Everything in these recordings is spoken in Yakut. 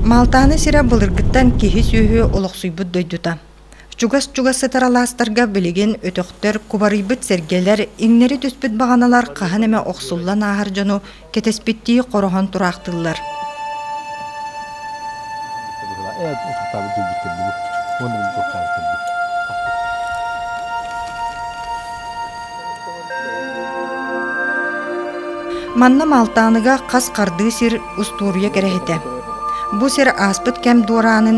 Малтааны сирэ былыргыттан киһи-сүөһү олохсуйбут дойдута. Чугас-чугас сытар алаастарга билигин өтөхтөр, кубарыйбыт сэргэлэр, иҥнэри түспүт баҕаналар хаһан эмэ охсуллан ааһар дьону кэтэспиттии хороһон тураахтыыллар. Манна Малтааныга хас хардыы сир устуоруйа кэрэһитэ. Бу сир ааспыт кэм дуораанын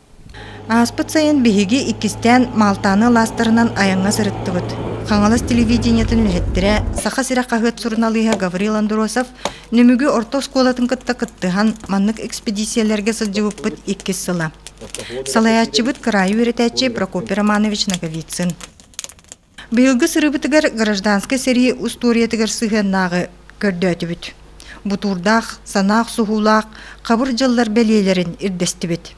Ааспыт сайын биһиги иккистээн Малтааны алаастарынан айаҥҥа сырыттыбыт. Хаҥалас телевидениетин үлэһиттэрэ, Саха сирэ хаһыат суруналыыһа Гаврил Андросов Нөмүгү орто оскуолатын кытта кыттыһан, маннык экспедициялэргэ сылдьыбыппыт иккис сыла. Салайааччыбыт кыраайы үөрэтээччи Прокопий Романович Ноговицын. Быйылгы сырыбытыгар гражданскай сэрии устуоруйатыгар сыһыаннааҕы көрдөөтүбүт. Бутуурдаах, санаах-суһуулаах хабыр дьыллар бэлиэлэрин ирдэстибит.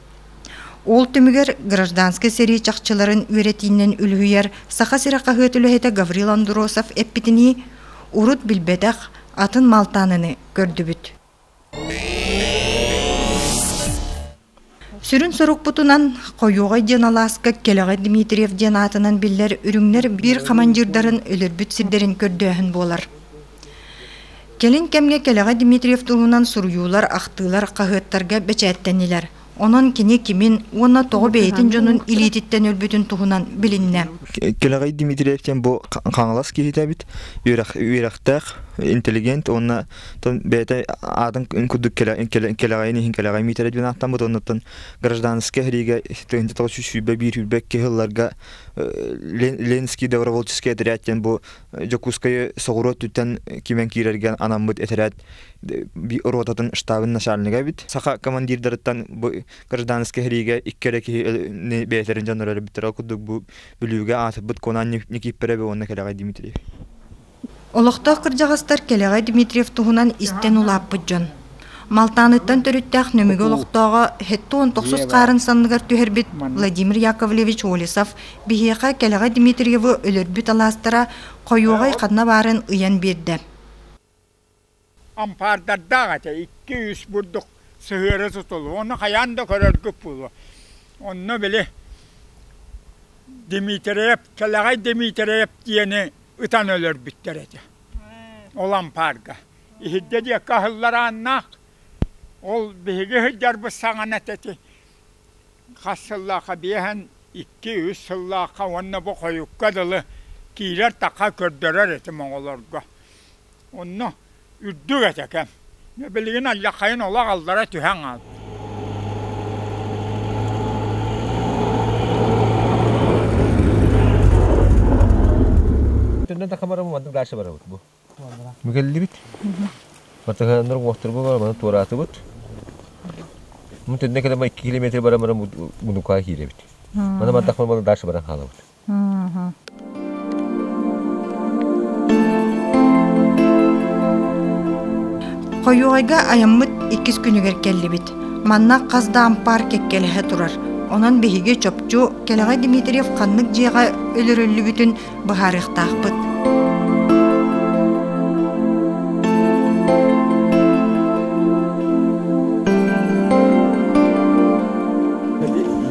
Ол түмүгэр гражданскай сэрии чахчыларын үөрэтиинэн үлүһүйэр Саха сирэ хаһыат үлэһитэ Гаврил Андросов эппитинии, урут билбэтэх атын малтааныны көрдүбүт. Сүрүн сорукпутунан Хойуоҕай диэн алааска Кэлэҕэ Дмитриев диэн аатынан биллэр үрүҥнэр биир хамандьыырдарын өлөрбүт сирдэрин көрдөөһүн буолар. Кэлин кэмҥэ Кэлэҕэ Дмитриев туһунан суруйуулар, ахтыылар хаһыаттарга бэчээттэннилэр. Онон кини кимин уонна тоҕо бэйэтин дьонун илиититтэн өлбүтүн туһунан билиннэ. Кэлэҕэй Дмитриев диэн бу Хаҥалас киһитэ эбит. Үөрэх, үөрэхтээх, интеллигент уонна Тон бэйэтэ аатын курдук кэлэҕэйин иһин кэлэҕэй миитэрэ диэн ааттаммыт оннуттан гражданскай иһриигэ тыһыынча тоҕус сүүс сүүрбэ биир сүүрбэкки сылларга Ленинский добровольческий отряд диэн бу Дьокуускайы соҕуруу өттүттэн кимэн киирэргэ анаммыт этэрээт ротатын штабын начальнига эбит. Саха командирдарыттан бу гражданскай иһриигэ икки эрэ киһи бэйэтэрин дьоннор өлбүттэрэ курдук бу бүлүүгэ аатырбыт Конан Никииппэрэбе уонна кэлэҕэй Дмитриев. Олохтоох кырдьаҕастар Кэлэҕэй Дмитриев туһунан истэн улааппыт дьон. Малтааныттан төрүттээх Нөмүгү олохтооҕо һэтту он тохсус хаарын санныгар түһэрбит Владимир Яковлевич Волесов биһиэхэ Кэлэҕэй Дмитриевы өлөрбүт алаастара хойуоҕай ханна баарын ыйан биэрдэ. ампаардардаах этэ икки-үс бурдук сыһыары сутуллуо уонна хайаан да көрөргүт буолуо онно били Дмитриев Кэлэҕэй Дмитриев диэни ытан өлөрбүттэр этэ ол ампаарга иһирдэ диэки аһыллар ааннаах ол биһиги сылдьарбыт саҥана этэ ити хас сыллаахха биэһэн икки-үс сыллаахха уонна бу хойукка дылы киирэр такха көрдөрөр этим оҕолорго Онно үрдүк этэ кэм. Билигин Аллахайын олох аллара түһэн хаалбыт. Төннөн да хамарабы маннык дальше барабыт бу. Мүгэллибит. Матыһаннар уохтурбу бар, маны туораатыбыт. Мун төннө кэлем 2 километр барамара мунука кииребит. Мана маттах малы дальше баран хаалабыт. Хойуойга айаммыт иккис күнүгэр кэллибит. Манна хас да ампаар кэккэлэһэ турар. Онон биһиги чопчу кэлэҕэ Дмитриев ханнык дьиэҕэ өлөрүллүбүтүн быһаарыахтаахпыт.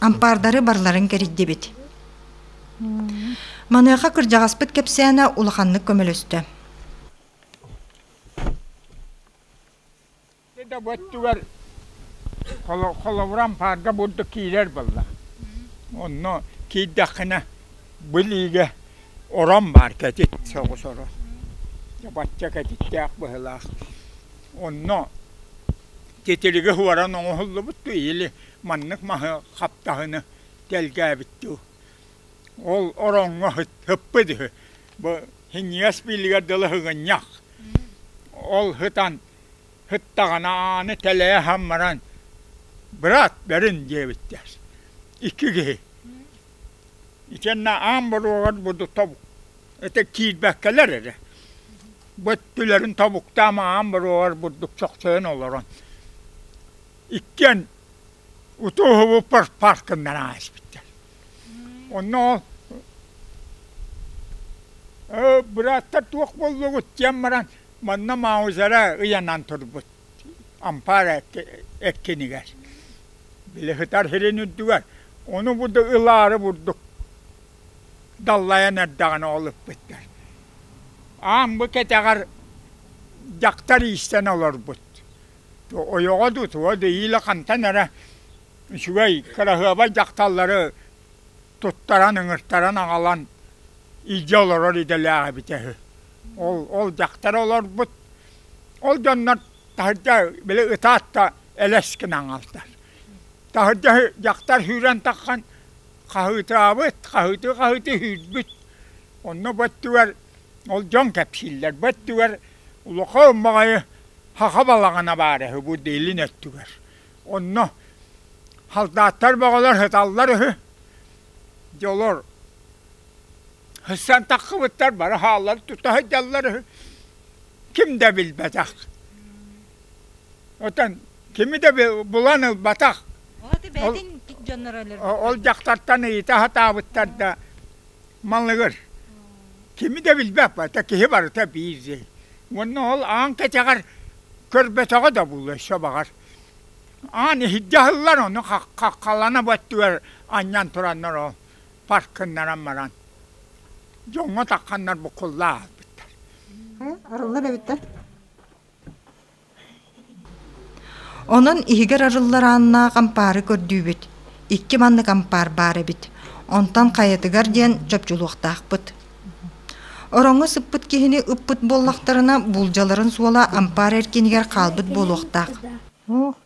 ампаардары барларын кэрийдибит маныаха кырдьаҕаспыт кэпсээнэ улаханнык көмөлөстө да бу өттүгэр холобура ампаарга бурдук киирэр буолла онно киирдэххинэ билиигэ орон баар кэтит соҕус орон бачча кэтиттээх быһылаах онно Титилиги уоран оҥоһуллубут дуу или маннык маһы хаптаһыны тэлгээбит дуу ол ороҥҥо һыппыт үһү бу һиҥигэс биллигэр дылы һыгынньах ол һытан һыттаҕына ааны тэлэйэ һам баран брат бэрин диэбиттэр икки киһи итиэннэ аан боруогар буду тобук ытык киирбэккэлэр эрэ бу өттүлэрин тобуктаам аан буруоҕар бурдук чохчойон олорон иккиэн утууһубуппар паркыннан ааспыттар онно «Э, бырааттар туох буоллугут диэн баран манна маузера ыйанан турбут ампаар эккинигэр били сытар сирин үрдүгэр ону буду ылаары бурдук даллайан эрдэҕинэ ол ыппыттар аан бу кэтэҕэр дьахтар иистэн олорбут ойоҕо дуу туо да иилэ хантан эрэ үчүгэй кыраһыаба дьахталлары туттаран ыҥыртаран аҕалан илдьэ олорор идэлээх эбитэ үһү ол ол дьахтары олорбут ол дьоннор таһырдьа били ытаат да элэс гынан аҕалтар таһырдьа дьахтар сүүрэн таххан хаһыытаабыт, хаһыты-хаһыты иһирбит. Онно бу өттүгэр ол дьон кэпсииллэр. Бу өттүгэр улахан маҕайы саха балаҕана баара үһү бу Дэйлин өттүгэр. Онно салдааттар бөҕөлөр сыталлар үһү. Дьэ олор Сысан таххыбыттар бары хааллан тута сылдьаллар үһү. Ким да билбэтэх. Оттон кими да булан ылбатах. Аты бэйэтин дьонноро өлөрбүт. Ол дьахтартан ыйыта сатаабыттар да малыгыр. Кими да билбэппэ, киһи барыта биир Уонна ол аан кэчэҕэр көрбөтөҕө да буолуо баҕар. Аан иһирдьэ аһыллар, ону хаххалана бу өттүгэр анньан тураннар ол паркыннаран баран дьоҥҥо тахханнар буккулла ааспыттар. Арыллар эбиттэр. Онон иһигэр арыллар ааннаах ампаары көрдүүбүт. Икки маннык ампаар баар эбит. Онтон хайатыгар диэн чопчулуохтаахпыт. Ороҥҥо сыппыт киһини ыппыт буоллахтарына, буулдьаларын суола ампаар эркинигэр хаалбыт буолуохтаах.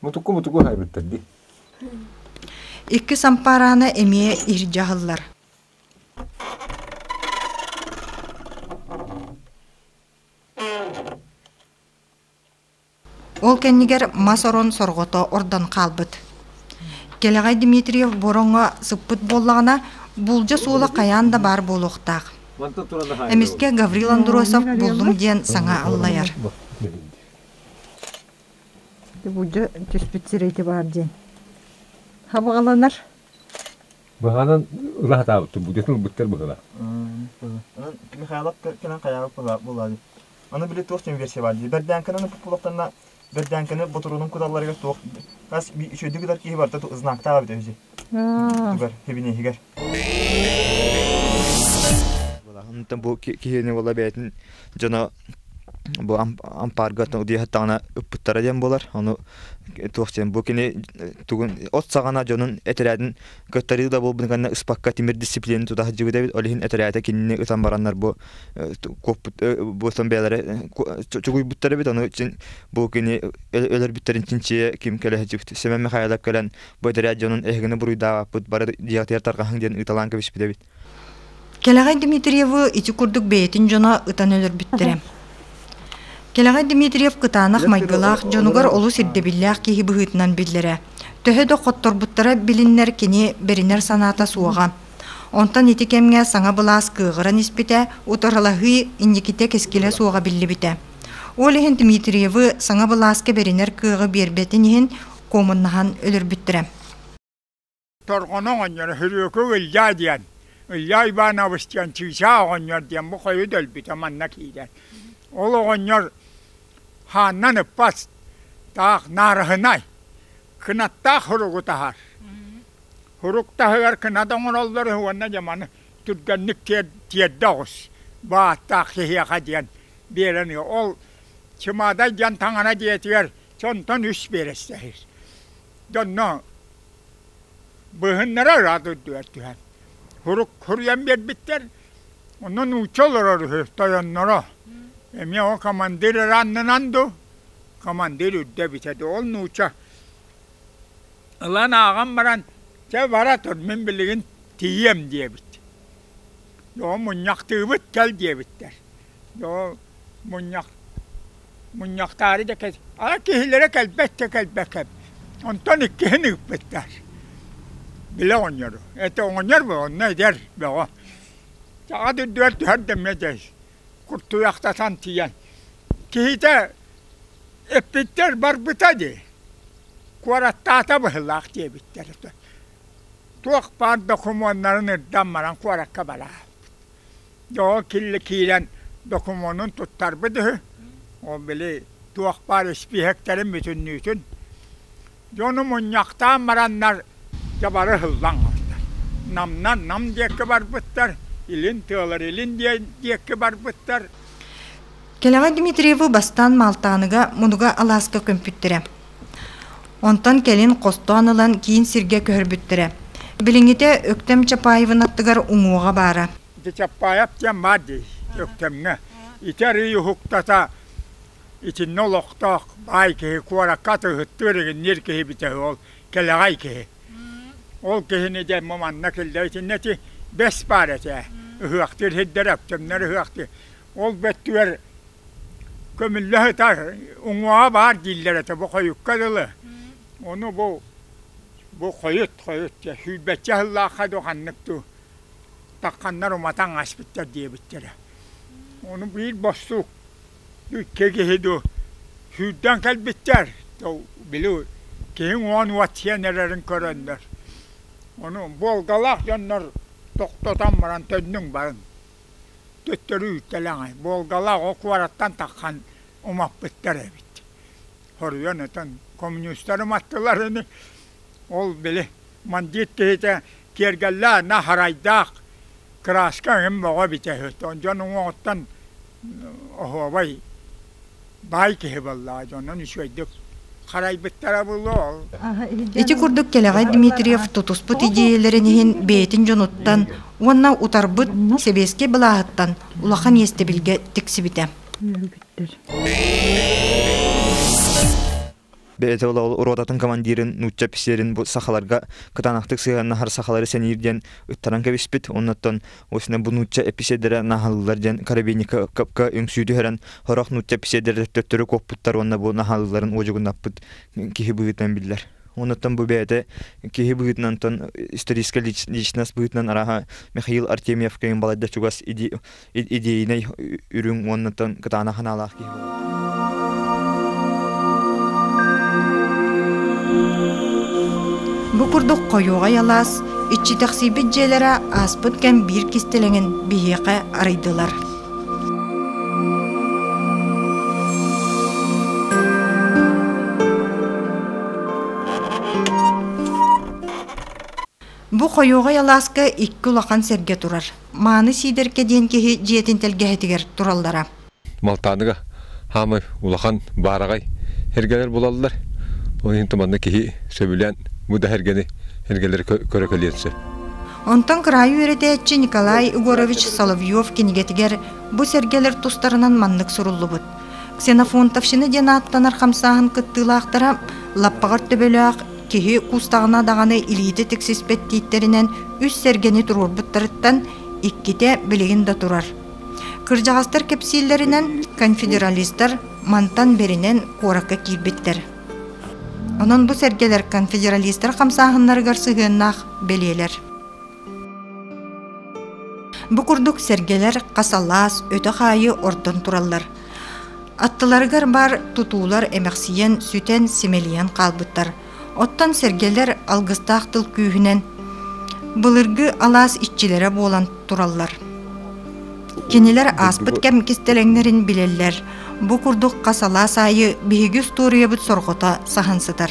Мутуку-мутуку саайбыттар дии. Иккис ампаараана эмиэ иһир дьаһаллар Ол кэннигэр мас орон сорҕото ордон хаалбыт. Кэлэҕэй Дмитриев бороҥҥо сыппыт буоллаҕына, буулдьа суола хайаан да баар буолуохтаах. Эмискэ Гаврил Андросов буллум диэн саҥа аллайар. Дьэ түспүт сирэ ити баар диэн. Хабаҕаланар. Быһаанан ыла сатаабыттар, будетын ылбыттар быһыылаах. Михайлов кэнэн хайаҕа булаадыт. Аны били туох чем версия бар дии. Бердянканы булахтанна Бердянканы ботуруунун куталларыгар туох хас би үчөйдүк ытар киһи барда ту знактаа бит өзі. Тугар хибинеһигер. Онтон бу киһини буола бэйэтин дьоно бу ампаарга диэхтэҕинэ ыппыттара диэн буолар ону туох диэн бу кини тугун от саҕана дьонун этэрээтин кыттарыы да буолбун кэннэ ыспакка тимир дисциплина туда сылдьыбыт эбит ол иһин этэрээтэ кинини ытан бараннар бу куоппут бу сон бэйэлэрэ чугуйбуттар эбит ону чин бу кини өлөрбүттэрин чинчийэ ким кэлэһэ Сэмэн Михайлов кэлэн Бу этэрээт дьонун эһигини буруйдаабаппыт бары диэҕитигэр тарҕаһыҥ диэн ыыталаан кэбиспит эбит. Кэлэҕэй Дмитриевы ити курдук бэйэтин дьоно ытан өлөрбүттэрэ. Кэлэҕэй Дмитриев кытаанах майгылаах дьонугар олус ирдэбиллээх киһи быһыытынан биллэрэ. Төһө да хотторбуттара билиннэр кини бэринэр санаата суоҕа. Онтон ити кэмҥэ саҥа былаас кыаҕыран испитэ, утарылаһыы инникитэ кэскилэ суоҕа биллибитэ. Ол иһин Дмитриевы саҥа былааска бэринэр кыаҕы биэрбэтин иһин куомуннаһан өлөрбүттэрэ. Торҕону оҕонньоро Хөрүөкү Ылдьаа диэн, Ылдьаа Иванович диэн чыычаах оҕонньор диэн бу хойу дэлбитэ манна киирэн. Ол оҕонньор хааннан ыппат, таах наарыһынай, кынаттаах хуругу таһар. Хурук таһыгар кынат оҥороллор үһү уонна дьаманы түргэнник тиэрдэ оҕус. Бааттаах киһиэхэ диэн биэрэн ол Чымаадай диэн таҥара дьиэтигэр сонтон үс биэрэстэһир. Донно быыһыннара ыраат үрдүгэр түһэн, хурук хуруйан биэрбиттэр. Онно нуучча олорор үһү, тойонноро. Эмиэ ол командир ырааннынан ду, командир үрдэ бүтэ ду. Ол нуучча ылан ааҕан баран, чэ бара тур, мин билигин тиийиэм диэбит. Оо мунньахтыыбыт кэл диэбиттэр. мунньахтаары да киһилэрэ кэлбэт да кэлбэккэ онтон иккиһин ыыппыттар били оҕонньору это оҕонньор онно эдэр бөҕө саха дойдугар түһэр да эмиэ дэс куртуйахтатан тиийэн киһитэ эппиттэр барбыта дии куораттаата быһыылаах диэбиттэр туох баар докумуоннарын ырдан баран куоракка бараат Дьоҕо киирэн докумуонун туттарбыт үһү. Ол били туох баар испииһэктэрин бүтүннүүтүн. Дьону мунньахтаан бараннар дьабары ыһыллаҥҥыттар. Намнан Нам диэкки барбыттар, илин тыалар илин диэкки барбыттар. Кэлэҕэ Дмитриевы бастаан Малтааныга Мунуга алааска көмпүттэрэ. Онтон кэлин хостоон ылан киин сиргэ көһөрбүттэрэ. Билиҥҥитэ Өктөм Чапаевын аттыгар уҥуоҕа баара. Чапаев диэн баар дии Өктөмҥө. Ити арыый уһуктата итиннэ олохтоох баай киһи куоракка атыыһыттыыр игинниир киһи битэ ол кэлэҕэй киһи. Ол киһини дэ манна киллэ итиннэ ити бэс баар этэ. Ыһыахтыыр сирдэр Өктөмнөр ыһыахтыыр. ол бөттүгэр көмүллэ сытар уҥуоҕа баар дииллэр этэ бу хойукка дылы ону бу бу хойут хойут дьэ сүүрбэччэ сыллаахха дуу ханнык дуу такханнар уматан ааспыттар диэбиттэрэ ону биир бостуук икки киһи дуу сүүрдэн кэлбиттэр били киһи уон уот сиэн эрэрин көрөннөр ону буолгалаах дьоннор тохтотон баран төннүҥ баран Төттөрү үүттэлэҥэ. Волгалаах ол куораттан таххан умаппыттар эбит. Хоруйан этэн коммунистары маттылар ини. Ол били мандьыыт киһитэ киэргэллээх, наһарайдаах, кырааска эҥин бөҕө эбитэ үһү. Дьон уҥуоҕуттан оһуобай баай киһи буоллаҕа онон үчүгэйдик харайбыттара булуол ити курдук кэлэҕэй дмитриев тутуспут идиэйэлэрин иһин бэйэтин дьонуттан уонна утарбыт сэбиэскэй былааһыттан улахан иэстэбилгэ тиксибитэ бэйэтэ ротатын командирын нуучча писерин бу сахаларга кытаанахтык сыһыаннаһар сахалары сэниир диэн ыттаран кэбиспит оннуттан осина бу нуучча эписедерэ наһаллылар диэн карабиника капка үҥсүү түһэрэн хорох нуучча эписедерэ төттөрү куоппуттар уонна бу наһаллыларын уодьугуннаппыт киһи быһыытынан биллэр онуттан бу бэйэтэ киһи быһыытынан историческая личность быһыытынан араха михаил артемьевкайын балайда чугас иди идиэйинэй үрүҥ уоннаттан кытаана ханаалаах киһи Бу курдук хойуоҕай алаас иччитэхсийбит дьиэлэрэ ааспыт кэм биир кистэлэҥин биһиэхэ арыйдылар. Бу хойуоҕай алааска икки улахан сэргэ турар. Мааны Сиидэркэ диэн киһи дьиэтин тэлгэһэтигэр тураллара. Малтааныга хаамай улахан баараҕай эргэлэр булаллар. Ол иһин манна киһи сөбүлээн бу да эргэни эргэлэри көрө кэлиэн сөп. Онтон кыраайы үөрэтээччи Николай Егорович Соловьев кинигэтигэр бу сэргэлэр тустарынан маннык суруллубут. Ксенофонтовщина диэн ааттанар хамсааһын кыттыылаахтара лаппаҕар төбөлөөх Киһи кустаҕына даҕаны илиитэ тиксиспэт дииттэринэн үс сэргэни туруорбуттарыттан иккитэ билигин да турар. Кырдьаҕастар кэпсииллэринэн, конфедералистар мантан бэринэн куоракка киирбиттэр. Онон бу сэргэлэр конфедералистар хамсааһыннарыгар сыһыаннаах бэлиэлэр. Бу курдук сэргэлэр хас алаас өтөх аайы ордон тураллар. Аттыларыгар баар тутуулар эмэхсийэн, сүтэн, симэлийэн хаалбыттар. Оттон сэргэлэр алгыстаах тыл күүһүнэн былыргы алаас иччилэрэ буолан тураллар. Кинилэр ааспыт кэм кистэлэҥнэрин билэллэр. Бу курдук хас алаас аайы биһиги устуоруйабыт сорҕото саһан сытар.